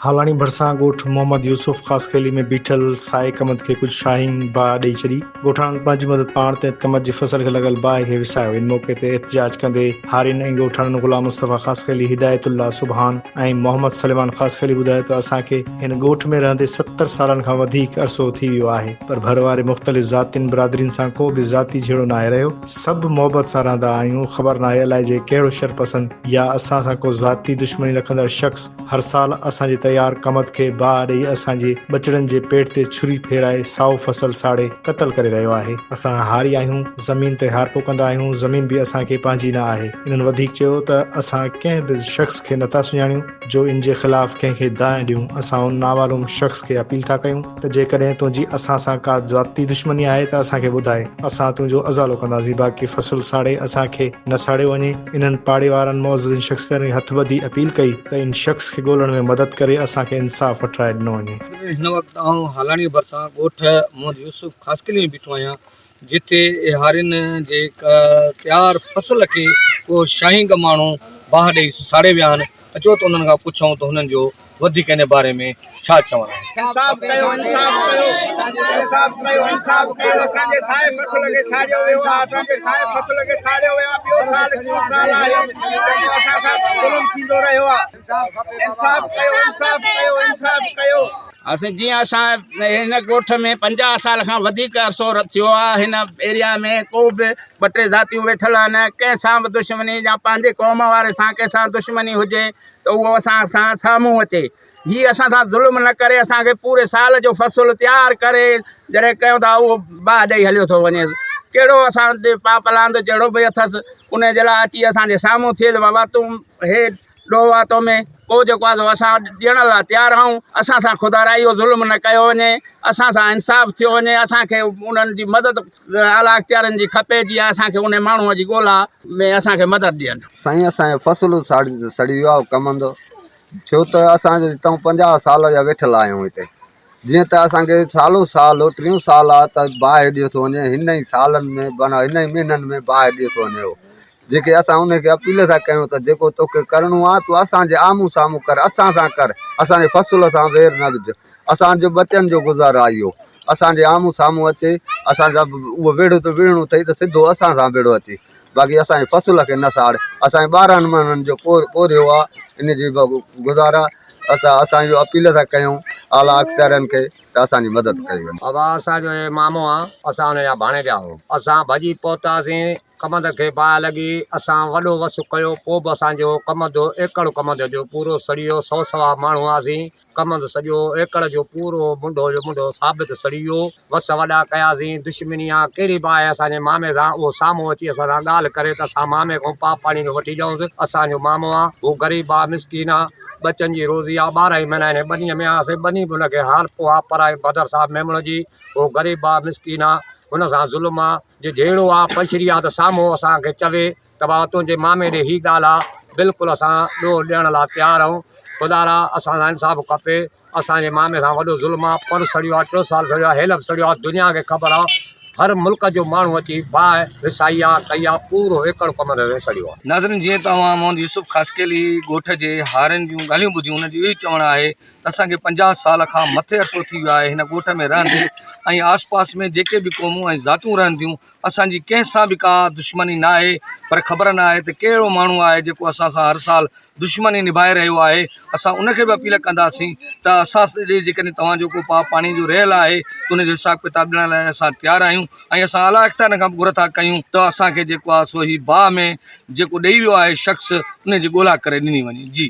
هالاڻي ڀرسان ڳوٺ محمد يوسف خاصخيلي ۾ بيٺل سائي ڪمت کي ڪجهه شاهين باهه ڏئي ڇڏي. ڳوٺاڻن پنهنجي مدد پاڻ تي ڪمت جي فصل کي لڳل باهه کي وسايو. ان موقعي تي احتجاج ڪندي هارين ۽ ڳوٺاڻن غلام مصطفيٰ خاصخيلي، هدايت الله سبحان ۽ محمد سليمان خاصخيلي ٻڌايو ته اسان کي هن ڳوٺ ۾ رهندي ستر سالن کان وڌيڪ عرصو ٿي ويو آهي پر ڀر واري مختلف ذاتين برادرين سان ڪو به ذاتي جهيڙو ناهي رهيو سڀ محبت سان رهندا آهيون خبر ناهي الائجي ڪهڙو شرپسند يا اسان سان ڪو ذاتي دشمني رکندڙ شخص هر سال اسان جي تيار ڪمند کي باهه ڏئي اسان جي ٻچڙن جي پيٽ تي ڇري ڦيرائي سائو فصل ساڙي قتل ڪري رهيو آهي. اسان هاري آهيون، زمين تي هارپو ڪندا آهيون، زمين به اسان کي پنهنجي نه آهي. انهن وڌيڪ چيو ته اسان ڪنهن به شخص کي نه ٿا سڃاڻيون جو ان جي خلاف ڪنهن کي دانهن ڏيون، اسان ان نامعلوم شخص کي اپيل ٿا ڪيون، ته جيڪڏهن تنهنجي اسان سان ڪا ذاتي دشمني آهي ته اسان کي ٻڌاء، اسان تنهنجو ازالو ڪنداسين، باقي فصل ساڙي اسان کي نه ساڙيو وڃي. انهن پاڙي وارن معززين شخصيتن کي هٿ ٻڌي اپيل ڪئي ته ان شخص کي ڳولڻ ۾ مدد ڪري اسان کي انصاف وٺرائي ڏنو وڃي. هن وقت آئون هالاڻيء ڀرسان ڳوٺ محمد يوسف خاصخيلي ۾ بيٺو آهيان، جتي ايهارين جي تيار فصل کي ڪو شاهينگ ماڻهو باهه ڏئي ساڙي ويا آهن، اچو ته انهن کان پڇون ته هنن جو وڌيڪ ان باري ۾ ڇا چوڻ آهي. انصاف ڪيو انصاف ڪيو انصاف ڪيو انصاف ڪيو اسان جي سائي فصل کي ساڙيو ويو آ اسان جي سائي فصل کي ساڙيو ويو آ ٻيو سال ٽيون سال آهي جيڪو اسان سان ظلم ٿيندو رهيو آ انصاف ڪيو انصاف ڪيو انصاف ڪيو. اسين جي اسان هن ڳوٺ ۾ پنجاهه سال کان وڌيڪ عرصو ٿيو آ هن ايريا ۾ ڪو به ٻه ٽي ذاتيون ويٺل آهن ڪنهن سان به دشمني يا پنهنجي قوم واري سان ڪنهن سان دشمني هجي ته اهو اسان سان ڇا منهن اچي هي اسان سان ظلم نه ڪري اسان کي پوري سال جو فصل تيار ڪري جڏهن ڪيو ٿا اهو باهه ڏئي هليو ٿو وڃي ڪهڙو اسان تي پاپ لاند جهڙو به اٿس ان جي لاء اچي اسان جي سامهون ٿئي بابا تون هي ڏوهه آ تو ۾ پوء جيڪو آ سو اسان ڏيڻ لاء تيار آهون اسان سان خدارايو ظلم نه ڪيو وڃي اسان سان انصاف ٿيو وڃي اسان کي انهن جي مدد اعليٰاختيارن جي کپي جي اسان کي انهي ماڻهو جي ڳولا ۾ اسان کي مدد ڏين. سائين اسان جو فصل ساڙي ته سڙي ويو آ او ڪمند ڇو ته اسان جو اتان پنجاهه سال جا ويٺل آهيون هتي جيئن ته اسان کي سالو سال ٽيون سال آ ته باهه ڏيو ٿو وڃي هن ئي سالن ۾ بنهه هن ئي مهينن ۾ باهه ڏيو ٿو وڃي او جيڪي اسان انهيء کي اپيل ٿا ڪيون ته جيڪو توکي ڪرڻو آهي، تون اسان جي آمهون سامهون ڪر، اسان سان ڪر، اسان جي فصل سان وير نه وجهه، اسان جو ٻچن جو گذارو آهي اهو، اسان جي آمهون سامهون اچي، اسان سان اهو ويڙهه ته وڙهڻو اٿئي ته سڌو اسان سان وڙهه اچي، باقي اسان جي فصل کي نه ساڙ، اسان جي ٻارهن مهينن جو پورهيو آهي، ان جي گذارا ته اسان اهو اپيل ٿا ڪيون اعليٰ اختيارين کي ته اسان جي مدد ڪئي وڃي. ابا اسان جو هي مامو آهي، اسان ان جا ڀاڻيجا آهيون، اسان ڀڄي پهتاسين ڪمند کي باهه لڳي، اسان وڏو وس ڪيو، پوء به اسان جو ڪمند ايڪڙ ڪمند جو پورو سڙي ويو، سو سوا ماڻهو هئاسين، ڪمند سڄو ايڪڙ جو پورو منڍو جو منڍو ثابت سڙي ويو، وس وڏا ڪياسين، دشمني آ ڪهڙي باهه اسان جي مامي سان، اهو سامهون اچي اسان سان ڳالهه ڪري ته اسان مامي کان پاء پاڻي جو وٺي ڏيئونس، اسان جو مامو آ، هو غريب آ، مسڪين آ، ٻچن جي روزي آ، ٻارهن ئي مهينا هن ٻنيء ۾ آهياسين، ٻني به هن کي حال پوء آ، پر آهي بدر صاحب ميمڻ جي، هو غريب آ، مسڪين آ، هن سان ظلم آ. جي جهيڙو آ پشري آ ته سامهون اسان کي چوي ته بابا تنهنجي مامي ڏي هي ڳالهه آ بلڪل اسان ڏوهه ڏيڻ لاء تيار آهيون خدا را اسان سان انصاف کپي اسانجي مامي سان وڏو ظلم آ پر سڙيو آ ٽيو سال سڙيو آ هيل به سڙيو آ دنيا کي خبر آ هر ملڪ جو ماڻهو اچي باهه وسائي آ ڪئي آ پورو ايڪڙ ڪمر ري سڙيو آ. ناظرين جيئن ته اوهان محمد يوسف خاصخيلي ڳوٺ جي هارين جون ڳالهيون ٻڌيون انهن جو اهو ئي چوڻ آهي ته اسان کي پنجاهه سال کان مٿي عرصو ٿي ويو آهي هن ڳوٺ ۾ رهندي ۽ آس پاس ۾ جيڪي به قومون ۽ ذاتون رهن ٿيون اسانجي ڪنهن سان به ڪا دشمني نه آهي پر خبر نه آهي ته ڪهڙو ماڻهو آهي جيڪو اسان سان هر سال دشمني نڀائي رهيو آهي اسان ان کي به اپيل ڪنداسين ته اسان سڄي جيڪڏهن توهان جو ڪو پاء پاڻي جو رهيل آهي ته ان جو حساب ڪتاب ڏيڻ لاء اسان تيار آهيون ۽ اسان اعليٰ اختيارن کان به گهر ٿا ڪيون ته اسان کي جيڪو آهي سو هي باهه ۾ جيڪو ڏئي ويو آهي شخص ان جي ڳولا ڪري ڏني وڃي جي